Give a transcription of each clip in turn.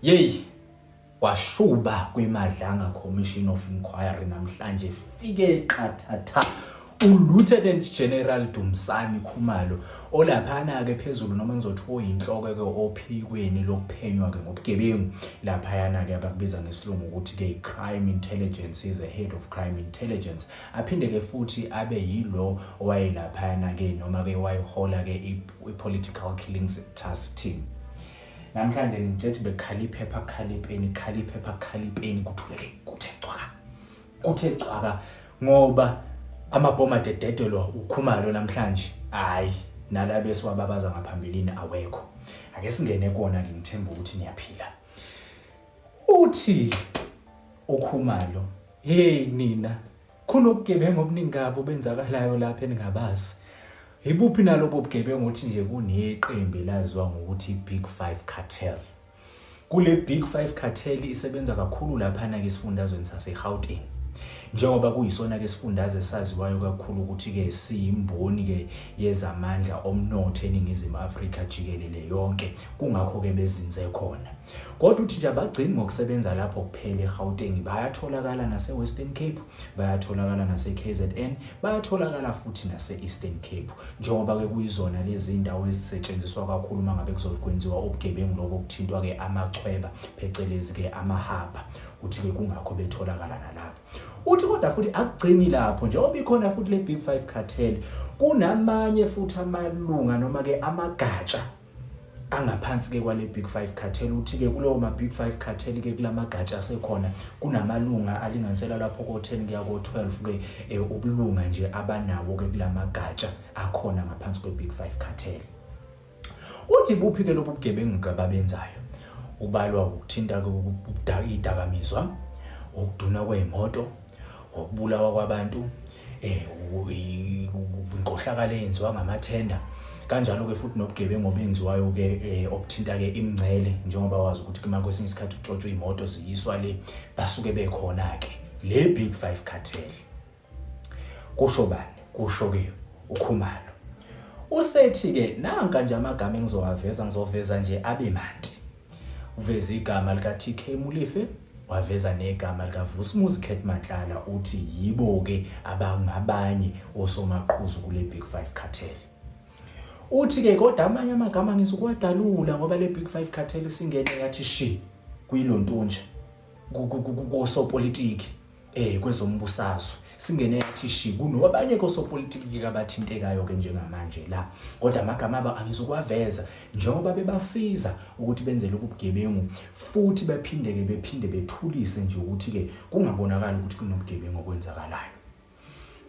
Yeyi kwashuba kwiMadlanga Commission of Inquiry namhlanje fike qathatha uLieutenant General Dumsani Khumalo olaphana-ke phezulu noma ngizothi oyinhloko-ke ophikweni lokuphenywa-ke ngobugebengu laphayana-ke abakubiza ngesilungu ukuthi-ke i-crime intelligence is a head of crime intelligence aphinde-ke futhi abe yilo owayelaphayana-ke noma-ke wayihola-ke i-political killings task team Namhlanje ngithethe bekhala iphepha khala ipeni khala iphepha khala ipeni kuthuleke kuthe cwaka. Kuthe cwaka ngoba amabhomu adededelwa ukhumalo namhlanje. Hayi nala besiwababaza ngaphambilini awekho. Ake singene kona ngithemba ukuthi niyaphila. Uthi ukhumalo hey nina Kunobugebengu obuningi kabi obenzakalayo lapha eningabazi. Yibuphi nalobo bugebengu ukuthi nje kuneqembu elaziwa ngokuthi Big Five Cartel. Kule Big Five Cartel isebenza kakhulu laphana-ke esifundazweni saseGauteng. Njengoba kuyisona-ke sifundaze saziwayo kakhulu ukuthi-ke siyimboni-ke yezamandla omnotho eNingizimu Afrika jikelele yonke, kungakho-ke bezinze khona. Kodwa uthi nje abagcini ngokusebenza lapho kuphela eGauteng, bayatholakala naseWestern Cape, bayatholakala naseKZN, bayatholakala futhi nase-Eastern Cape njengoba-ke kuyizona lezi ndawo ezisetshenziswa kakhulu uma ngabe kuzokwenziwa ubugebengu lobo kuthintwa-ke amachweba phecelezi-ke amahaba uthi-ke kungakho betholakala nalapho uthi kodwa futhi akugcini lapho njengoba ikhona futhi le-big five cartel kunamanye futhi amalunga noma-ke amagatsha angaphansi-ke kwale Big Five Cartel. Uthi-ke kulowo ma-Big Five Cartel-ke kula magatsha asekhona kunamalunga alinganisela lapho ko-10 kuya ko-12-ke eh, ubulunga nje abanawo-ke kula magatsha akhona ngaphansi kwe-Big Five Cartel. Uthi buphi-ke lobu bugebengu-ke ababenzayo? Ubalwa ukuthinta-ke idakamizwa, ukuduna kwey'moto, ngokubulawa kwabantu eh inkohlakalo eyenziwa ngamathenda kanjalo ke futhi nobugebengu obenziwayo ke eh, obuthinta ke imngcele njengoba wazi ukuthi kuma kwesinye isikhathi kutshotshwa imoto ziyiswa le basuke bekhona ke le big 5 cartel kusho bani kusho ke ukhumalo usethi ke nanka nje amagama engizowaveza ngizoveza nje abe mandi Uveze igama likaTK Molefe waveza negama likaVusumuzi Cat Matlala uthi yibo-ke abangabanye osomaqhuzu kule Big Five Cartel. Uthi-ke kodwa amanye amagama ngizokuwadalula ngoba le Big Five Cartel isingene yathi shi kuyilontunja kosopolitiki. eh kwezombusazwe singene yathi shi kuno abanye kosopolitiki kabathintekayo ke njengamanje la kodwa amagama aba angizokwaveza njengoba bebasiza ukuthi benze lobugebengu futhi bephinde ke bephinde bethulise nje ukuthi ke kungabonakala ukuthi kunobugebengu okwenzakalayo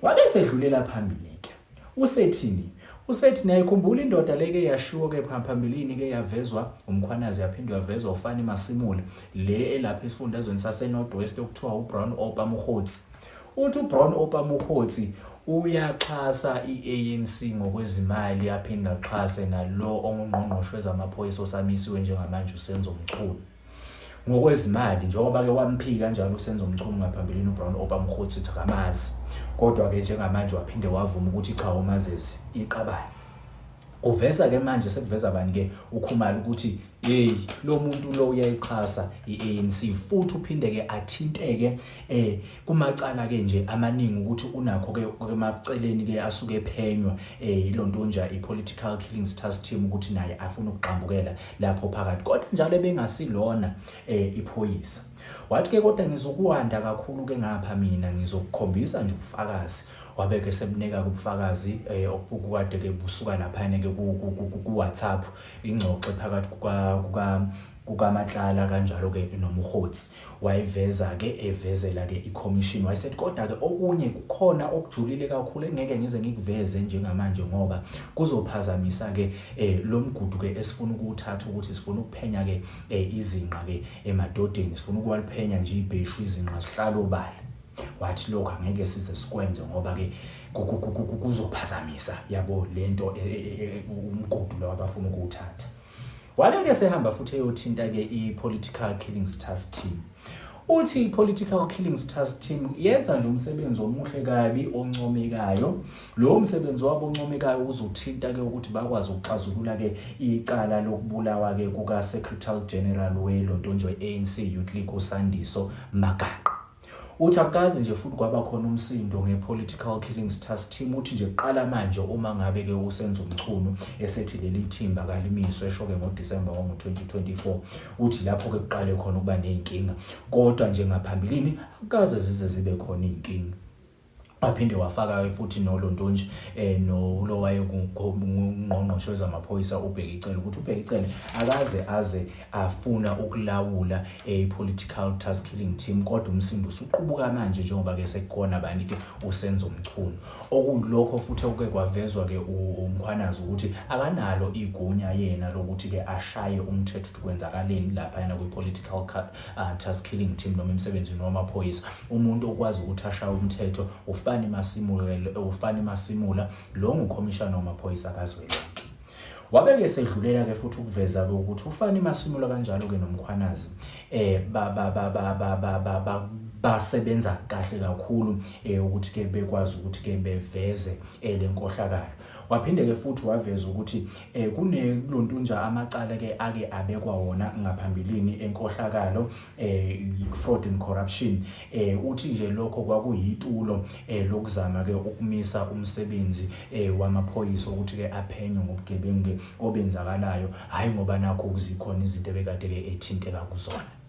wabe sedlulela phambili ke Usethini? Usethi niyayikhumbula indoda le ke yashiwo ke phambilini ke yavezwa uMkhwanazi yaphinde yavezwa uFani Masimula le elapha esifundazweni saseNorth West okuthiwa uBrown Opa Mokgotsi. Uthi uBrown Opa Mokgotsi uyaxhasa i-ANC ngokwezimali aphinde axhase nalo ongungqongqoshe wezamaphoyisa osamisiwe njengamanje uSenzo Mchunu. ngokwezimali njengoba ke wamphika kanjalo uSenzo Mchunu ngaphambilini uBrown Opa Mkhotsi ukuthi akamazi kodwa ke njengamanje waphinde wavuma ukuthi cha umazezi iqabane kuveza ke manje sekuveza bani ke ukhumalo ukuthi hey lo muntu lo uyayixhasa iANC futhi uphinde ke athinteke eh kumacala-ke nje amaningi ukuthi unakho-ke emaceleni-ke asuke ephenywa um eh, ilontonja i-political killings task team ukuthi naye afuna ukugxambukela lapho phakathi kodwa njalo ebengasilona um eh, iphoyisa wathi-ke kodwa ngizokuwanda kakhulu-ke ngapha mina ngizokukhombisa nje ubufakazi wabeke semnika kubufakazi eh okukade ke busuka laphana ke ku WhatsApp ingxoxo phakathi kuka kuka kukaMatlala kanjalo-ke noMokgotsi wayiveza-ke evezela-ke ikhomishini wayesethi kodwa-ke okunye kukhona okujulile kakhulu engeke ngize ngikuveze njengamanje ngoba kuzophazamisa-ke um lo mgudu-ke esifuna ukuwuthatha ukuthi sifuna ukuphenya-ke um izinqa-ke emadodeni sifuna ukuwaliphenya nje ibheshu izinqa zihlala obala wathi lokho angeke size sikwenze ngoba-ke kuzophazamisa yabo le nto e, e, e, umgudu lo abafuna ukuwuthatha Waleke sehamba futhi eyothinta-ke i-Political Killings Task Team. Uthi i-Political Killings Task Team yenza nje umsebenzi omuhle kabi oncomekayo. Lowo msebenzi wabo oncomekayo uzothinta-ke ukuthi bakwazi ukuxazulula-ke icala lokubulawa-ke kuka-Secretary General weLontondwe ANC Youth League uSandiso Magaqa. Uthi akukaze nje futhi kwaba khona umsindo nge-political killings task team uthi nje kuqala manje uma ngabe-ke usenza umchunu esethi leli thimba kalimiswe esho-ke ngodisemba wango-2024 uthi lapho-ke kuqale khona ukuba ney'nkinga kodwa nje ngaphambilini akukaze zize zibe khona iy'nkinga waphinde wafaka futhi nolontonje eh nolo wayekungqongqoshe wezamaphoyisa ubheke icele ukuthi ubheke icele akaze aze afuna ukulawula a political task killing team kodwa umsindo usuqubuka manje njengoba ke sekukhona abantu ke usenza umchunu okuyilokho futhi okuke kwavezwa ke umkhwanazi ukuthi akanalo igunya yena lokuthi ke ashaye umthetho ukuthi kwenzakaleni lapha yena kwi political cut uh, task killing team noma emsebenzini wamaphoyisa umuntu okwazi ukuthi ashaye umthetho ufani masimule ufani masimula lo ngukhomishana wamaphoyisa kazwelonke wabeke esedlulela ke futhi ukuveza ke ukuthi ufani masimula kanjalo ke nomkhwanazi eh ba ba ba ba ba ba ba, ba basebenza kahle kakhulu eh ukuthi ke bekwazi ukuthi ke beveze eh, lenkohlakalo Waphinde-ke futhi waveza ukuthi um kunelontunja amacala-ke ake abekwa wona ngaphambilini enkohlakalo um eh, fraud and corruption um uthi nje lokho kwakuyitulo um lokuzama-ke ukumisa umsebenzi um wamaphoyisa ukuthi-ke aphenye ngobugebengu-ke obenzakalayo hhayi ngoba nakho kuzikhona izinto ebekade-ke ethinteka kuzona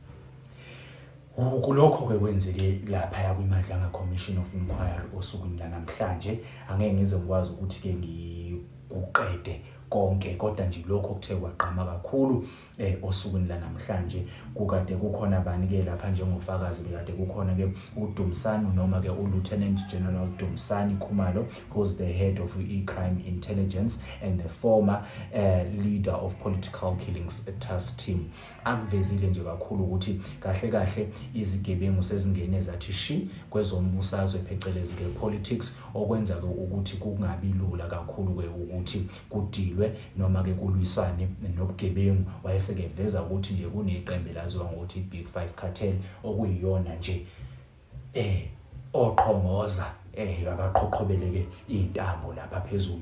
Kulokho-ke kwenzeke laphaya kwiMadlanga Commission of Inquiry osukwini lanamhlanje, angeke ngize ngikwazi ukuthi-ke ngikuqede konke kodwa nje lokho kuthe kwagqama kakhulu eh osukwini lanamhlanje kukade kukhona bani ke lapha njengofakazi bekade kukhona ke uDumsani noma ke uLieutenant General Dumsani Khumalo who's the head of e-crime intelligence and the former uh, leader of political killings task team akuvezile nje kakhulu ukuthi kahle kahle izigebengu sezingene zathi shi kwezombusazwe phecelezi ke politics okwenza ke ukuthi kungabi lula kakhulu ke ukuthi kudilwe noma ke kulwisane nobugebengu wayeseke veza ukuthi nje kuneqembu laziwa ngokuthi Big 5 Cartel okuyiyona nje eh oqhongoza eh akaqhoqhobeleke intambo lapha phezulu